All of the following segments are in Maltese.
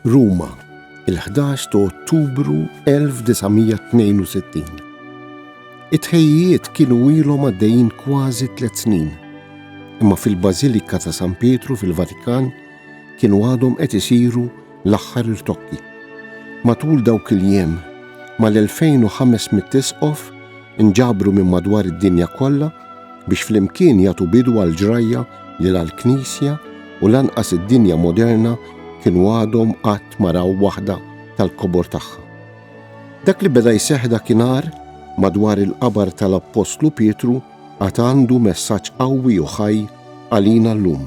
Ruma, il-11 ta' Ottubru 1962. It-ħejjiet kienu ilhom għaddejjin kważi tliet snin, imma fil-Bażilika ta' San Pietru fil-Vatikan kienu għadhom qed isiru L-aħħar irtokki. Matul dawk il-jiem, mal-2,500 isqof inġabru minn madwar id-dinja kollha biex flimkien jagħtu bidu għall-ġrajja li la l-Knisja u lanqas id-dinja moderna kienu għadhom qatt ma raw waħda tal-kobor tagħha. Dak li beda jseħħ dakinhar madwar il-qabar tal-Appostlu Pietru għad għandu messaġġ qawwi u ħaj għalina llum.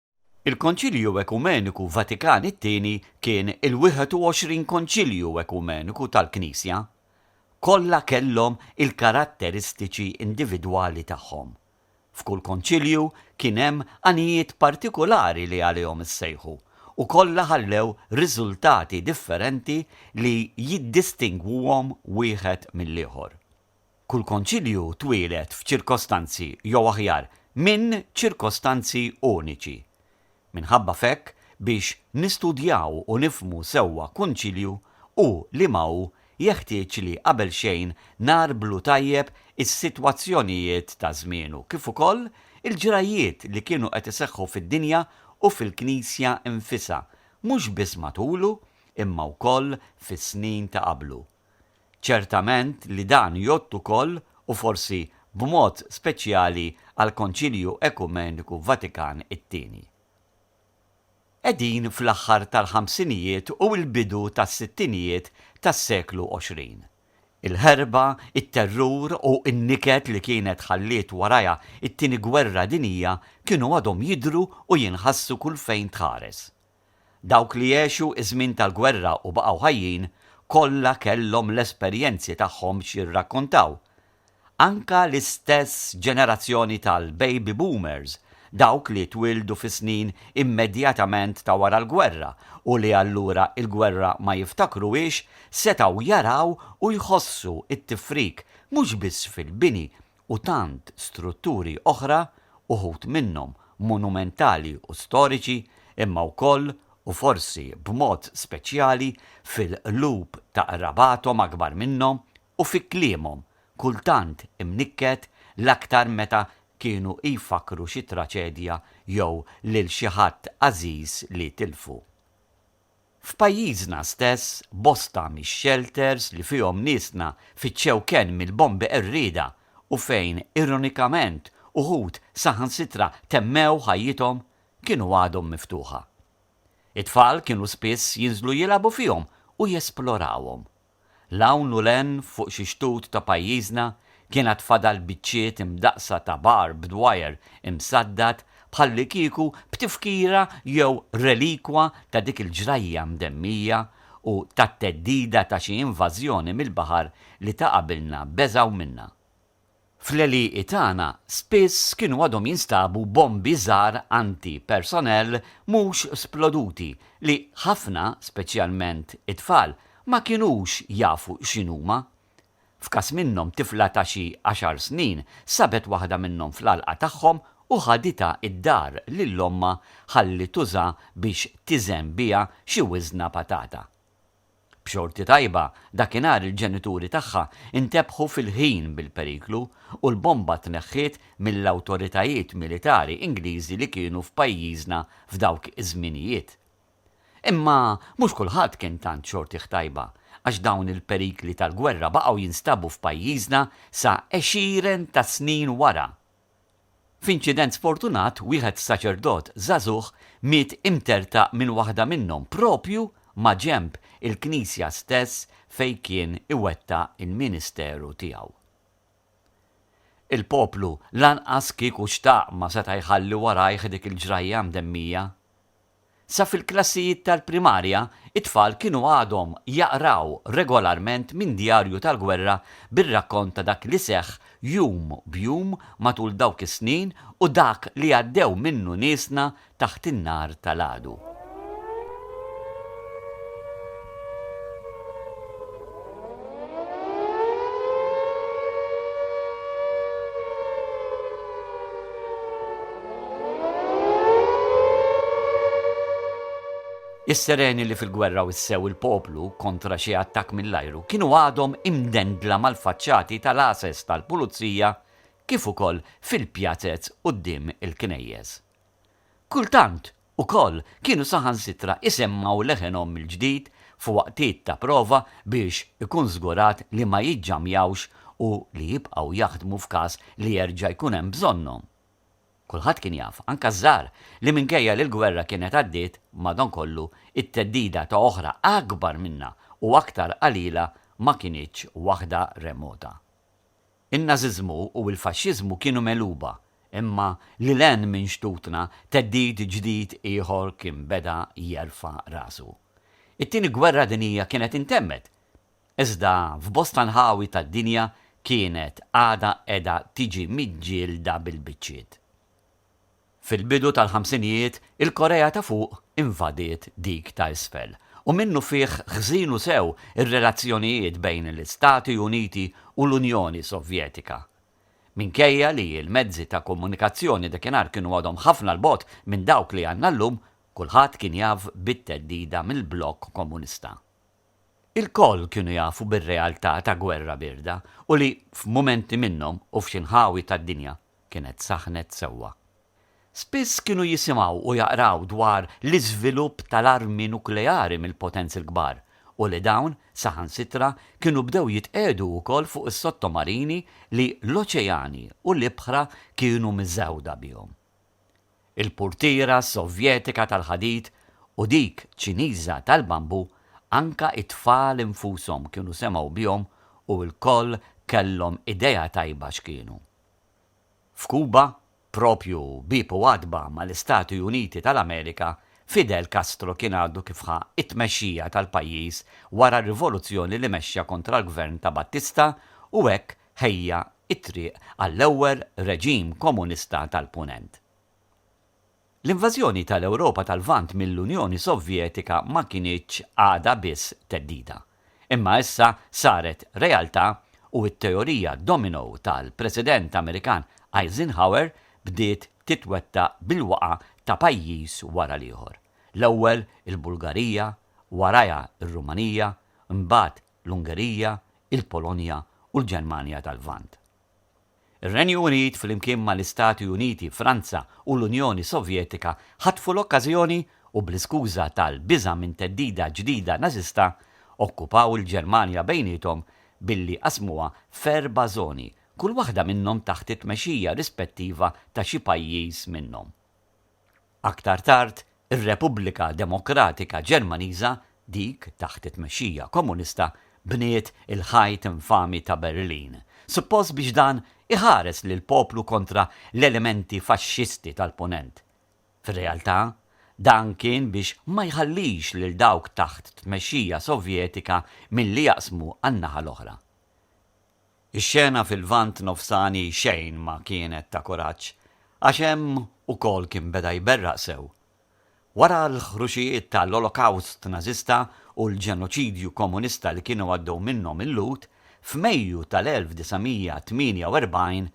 Il-Konċilju Ekumeniku Vatikan it-Tieni kien il-21 Konċilju Ekumeniku tal-Knisja. Kollha kellhom il-karatteristiċi individwali tagħhom. F'kull Konċilju kien hemm għanijiet partikulari li għalihom issejħu, u kollha ħallew riżultati differenti li jiddistingwuhom wieħed mill-ieħor. Kull Konċilju twieled f'ċirkostanzi jew aħjar, minn ċirkostanzi uniċi. Minħabba f'hekk, biex nistudjaw u nifhmu sewwa Kunċilju, u liema hu, jeħtieġ li qabel xejn ngħarblu tajjeb is-sitwazzjonijiet ta' żmienu kif ukoll il-ġrajjiet li kienu qed iseħħu fid-dinja u fil-Knisja nfisha, mhux biss matulu imma wkoll fis-snin ta' qablu. Ċertament li dan jgħodd ukoll, u forsi b'mod speċjali għall-Konċilju Ekumeniku Vatikan it-Tieni. Qegħdin fl-aħħar tal-ħamsinijiet u l-bidu tas-sittinijiet tas-seklu 20. Il-ħerba, it-terrur u n-niket li kienet ħalliet warajha t-Tieni Gwerra Dinjija kienu għadhom jidhru u jinħassu kull fejn tħares. Dawk li għexu ż-żmien tal-gwerra u baqgħu ħajjin kollha kellhom l-esperjenzi tagħhom x'jirrakkontaw. Anke l-istess ġenerazzjoni tal-baby boomers, dawk li twieldu fis-snin immedjatament ta' wara l-gwerra u li allura l-gwerra ma jiftakruhiex, setgħu jaraw u jħossu t-tifrik mhux biss fil-bini u tant strutturi oħra, uħud minnhom monumentali u storiċi, imma wkoll, u forsi b'mod speċjali, fil-qlub ta' qrabathom akbar minnhom u fi kliemhom, kultant imnikket, l-aktar meta kienu jfakkru xi traċedja jew lil xi ħadd għażiż li tilfu. F'pajjiżna stess, bosta mix-xelters li fihom niesna fittxew kenn mill-bombi qerrieda u fejn, ironikament, uħud saħansitra temmew ħajjithom, kienu għadhom miftuħa. It-tfal kienu spiss jinżlu jilagħbu fihom u jesplorawhom. 'l hawn u 'l hemm fuq xi xtut ta' pajjiżna kien għad fadal biċċiet imdaqqsa ta' barbed wire imsaddad bħallikieku b'tifkira jew relikwa ta' dik il-ġrajja mdemmija u tat-theddida ta' xi invażjoni mill-baħar li ta' qabilna beżgħu minnha. Fl-għelieqi tagħna spiss kienu għadhom jinstabu bombi żgħar anti, personnel mhux sploduti li ħafna, speċjalment it-tfal, ma kinux jafu x'inhuma. F'każ minnhom tifla ta' xi għaxar snin sabet waħda minnhom fl-għalqa tagħhom u ħaditha d-dar lil ommha ħalli tuża biex tiżen biha xi wiżna patata. B'xorti tajba, dakinhar il-ġenituri tagħha ntebħu fil-ħin bil-periklu u l-bomba tneħħiet mill-awtoritajiet militari Ingliżi li kienu f'pajjiżna f'dawk iż-żminijiet. Imma mhux kulħadd kien tant xortih tajba, għax dawn il-perikli tal-gwerra baqgħu jinstabu f'pajjiżna sa għexieren ta' snin wara. F'inċident sfortunat, wieħed saċerdot żagħżugħ miet imtertaq minn waħda minnhom proprju maġenb il-knisja stess fejn kien iwettaq il-ministeru tiegħu. Il-poplu lanqas kieku xtaq ma seta' jħalli warajh dik il-ġrajja mdemmija. Sa fil-klassijiet tal-primarja, it-tfal kienu għadhom jaqraw regolarment minn djarju tal-gwerra bir-rakkont ta' dak li seħħ jum b'jum matul dawk is-snin u dak li għaddew minnu niesna taħt in-nar tal-għadu. Is-sereni li fil-gwerra wissew il-poplu kontra xi attakk mill-ajru kienu għadhom imdendla mal-faċċati tal-għases tal-pulizija kif ukoll fil-pjazez quddiem il-knejjes. Kultant Ukoll, kienu saħansitra isemmgħu leħenhom mill-ġdid f'waqtiet ta' prova biex ikun żgurat li ma jiġġamjawx u li jibqgħu jaħdmu f'każ li jerġa' jkun hemm bżonnhom. Kulħadd kien jaf, anke ż-żgħar, li minkejja li l-gwerra kienet għaddiet, madankollu, it-theddida ta' oħra akbar minnha u aktar qalila ma kinitx waħda remota. In-Nażiżmu u l-Faxxiżmu kienu megħluba, imma lil hinn minn xtutna theddid ġdid ieħor kien beda jerfa' rasu. It-Tieni Gwerra Dinjija kienet intemmet, iżda f'bosta nħawi tad-dinja kienet għadha qiegħda tiġi miġġielda bil-biċċiet. Fil-bidu tal-ħamsinijiet, il-Korea ta' Fuq invadiet dik ta' Isfel, u minnufih ħżinu sew ir-relazzjonijiet bejn l-Istati Uniti u l-Unjoni Sovjetika. Minkejja li l-mezzi ta' komunikazzjoni dakinhar kienu għadhom ħafna 'l bogħod minn dawk li għandna llum, kulħadd kien jaf bit-theddida mill-blokk komunista. Ilkoll kienu jafu bir-realtà ta' gwerra bierda u li f'mumenti minnhom u f'xi nħawi tad-dinja kienet saħħnet sewwa. Spiss kienu jisimgħu u jaqraw dwar l-iżvilupp tal-armi nukleari mill-potenzi l-kbar u li dawn saħansitra kienu bdew jitqiegħdu wkoll fuq is-sottomarini li l-oċeani u l-ibħra kienu miżgħuda bihom. Il-purtiera Sovjetika tal-ħadid u dik Ċiniża tal-bambu, anke t-tfal infushom kienu semgħu bihom u lkoll kellhom idea tajba x'kienu. F'Kuba, proprju bieb u għatba mal-Istati Uniti tal-Amerika, Fidel Castro kien għadu kif ħa t-tmexxija tal-pajjiż wara r-rivoluzzjoni li mexxa kontra l-gvern ta' Batista u hekk ħejja t-triq għall-ewwel reġim komunista tal-Punent. L-invażjoni tal-Ewropa tal-Lvant mill-Unjoni Sovjetika ma kinitx għadha biss theddida, imma issa saret realtà u t-teorija domino tal-President Amerikan Eisenhower bdiet titwettaq bil-waqgħa ta' pajjiż wara l-ieħor, l-ewwel il-Bulgarija, warajha r-Rumanija, imbagħad l-Ungerija, il-Polonja u l-Ġermanja tal-Lvant. Ir-Renju Unit flimkien mal-Istati Uniti, Franza u l-Unjoni Sovjetika ħatfu l-okkażjoni u bl-iskuża tal-biża' minn theddida ġdida Nażista, okkupaw il-Ġermanja bejniethom billi qasmuha f'erba' żoni, kull waħda minnhom taħt it-tmexxija rispettiva ta' xi pajjiż minnhom. Aktar tard, ir-Repubblika Demokratika Ġermaniża, dik taħt it-tmexxija Komunista, bniet il-Ħajt Infami ta' Berlin, suppost biex dan iħares lill-poplu kontra l-elementi faxxisti tal-Punent. Fir-realtà, dan kien biex ma jħallix lil dawk taħt tmexxija Sovjetika milli jaqsmu għan-naħa l-oħra. Ix-xena fil-Lvant Nofsani xejn ma kienet ta' kuraġġ għax hemm ukoll kien beda jberraq sew. Wara l-ħruxijiet ta' l-Olokawst Nażista u l-ġenoċidju Komunista li kienu għaddew minnhom il-Lhud, f'Mejju tal-1948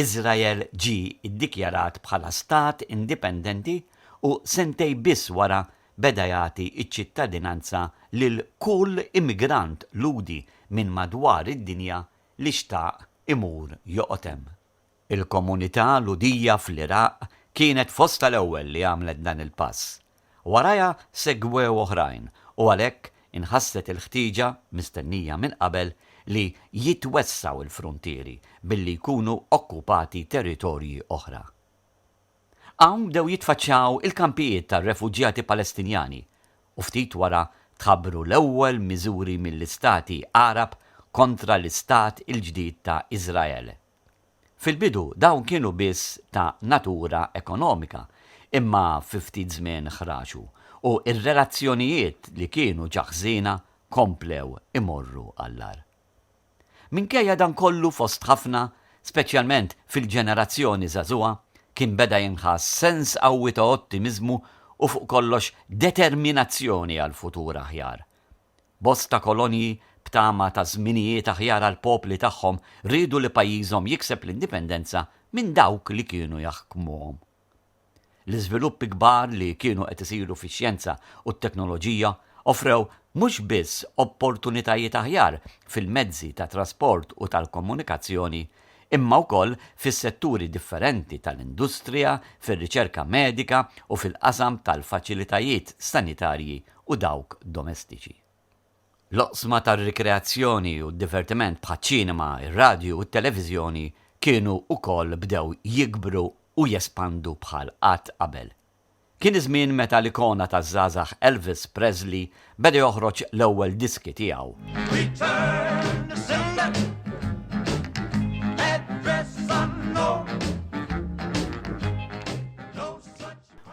Iżrael ġie ddikjarat bħala stat indipendenti u sentej biss wara beda jagħti ċ-ċittadinanza lil kull immigrant Lhudi minn madwar id-dinja li xtaq imur joqgħod hemm. Il-komunità Lhudija fl-Iraq kienet fost tal-ewwel li għamlet dan il-pass, Warajha segwew oħrajn u għalhekk inħasset il-ħtieġa, mistennija minn qabel, li jitwessgħu l-fruntieri billi jkunu okkupati territorji oħra. Hawn bdew jitfaċċaw il-kampijiet tar-refuġjati Palestinjani u ftit wara tħabbru l-ewwel miżuri mill-Istati Għarab kontra l-Istat il-ġdid ta' Iżrael. Fil-bidu dawn kienu biss ta' natura ekonomika, imma fi ftit żmien ħraġu u r-relazzjonijiet li kienu ġa ħżiena komplew imorru għall-agħar. Minkejja dan kollu fost ħafna, speċjalment fil-ġenerazzjoni żagħżugħa, kien beda jinħass sens qawwi ta' ottimiżmu u fuq kollox determinazzjoni għal futur aħjar. Bosta kolonji b'tama ta' żminijiet aħjar għall-popli tagħhom riedu li pajjiżhom jikseb l-indipendenza minn dawk li kienu jaħkmuhom. L-iżviluppi kbar li kienu qed isiru fix-xjenza u t-teknoloġija offrew mhux biss opportunitajiet aħjar fil-mezzi ta' trasport u tal-komunikazzjoni imma wkoll fis-setturi differenti tal-industrija, fir-riċerka medika u fil-qasam tal-faċilitajiet sanitarji u dawk domestiċi. L-oqsma tar-rikreazzjoni u d-divertiment bħaċ-ċinema, ir-radju u t-televiżjoni kienu wkoll bdew jikbru u jespandu bħal qatt qabel. Kien iż-żmien meta l-ikona taż-żgħażagħ Elvis Presley beda joħroġ l-ewwel diski tiegħu.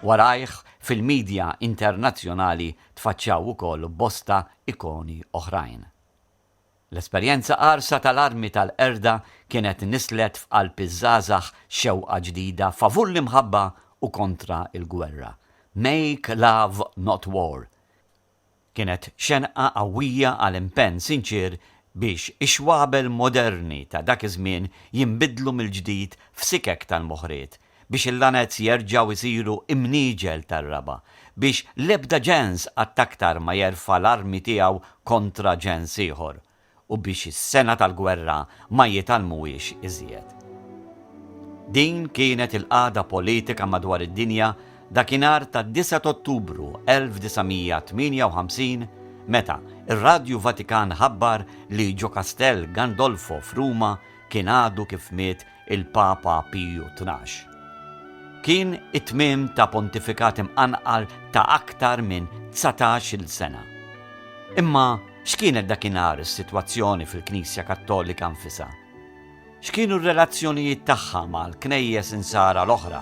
Warajh fil-midja internazzjonali tfaċċaw ukoll bosta ikoni oħrajn. L-esperjenza qarsa tal-armi tal-qerda kienet nisslet f'qalb iż-żgħażagħ xewqa ġdida favur l-imħabba u kontra l-gwerra, Make Love Not War, Kienet xenqa qawwija għal impenn sinċier biex ix-xwabel moderni ta' dak iż-żmien jinbidlu mill-ġdid f'sikek tal-moħriet, biex il-lanez jerġgħu jsiru imniġel tar-raba', biex l-ebda ġens qatt aktar ma jerfa' l-armi tiegħu kontra ġens ieħor. u biex is-sengħa tal-gwerra ma jitgħallmuhiex iżjed. Din kienet il-qagħda politika madwar id-dinja dakinhar tad-disgħa t'Ottubru 1958 meta r-Radju Vatikan ħabbar li ġo Kastell Gandolfo f'Ruma kien għadu kif miet il-Papa Piju Tnax. Kien it-tmiem ta' pontifikat imqanqal ta' aktar minn dsatax-il sena. Imma x'kienet dakinhar is-sitwazzjoni fil-Knisja Kattolika nfisha? X'kienu r-relazzjonijiet tagħha mal-Knejjes Insara l-oħra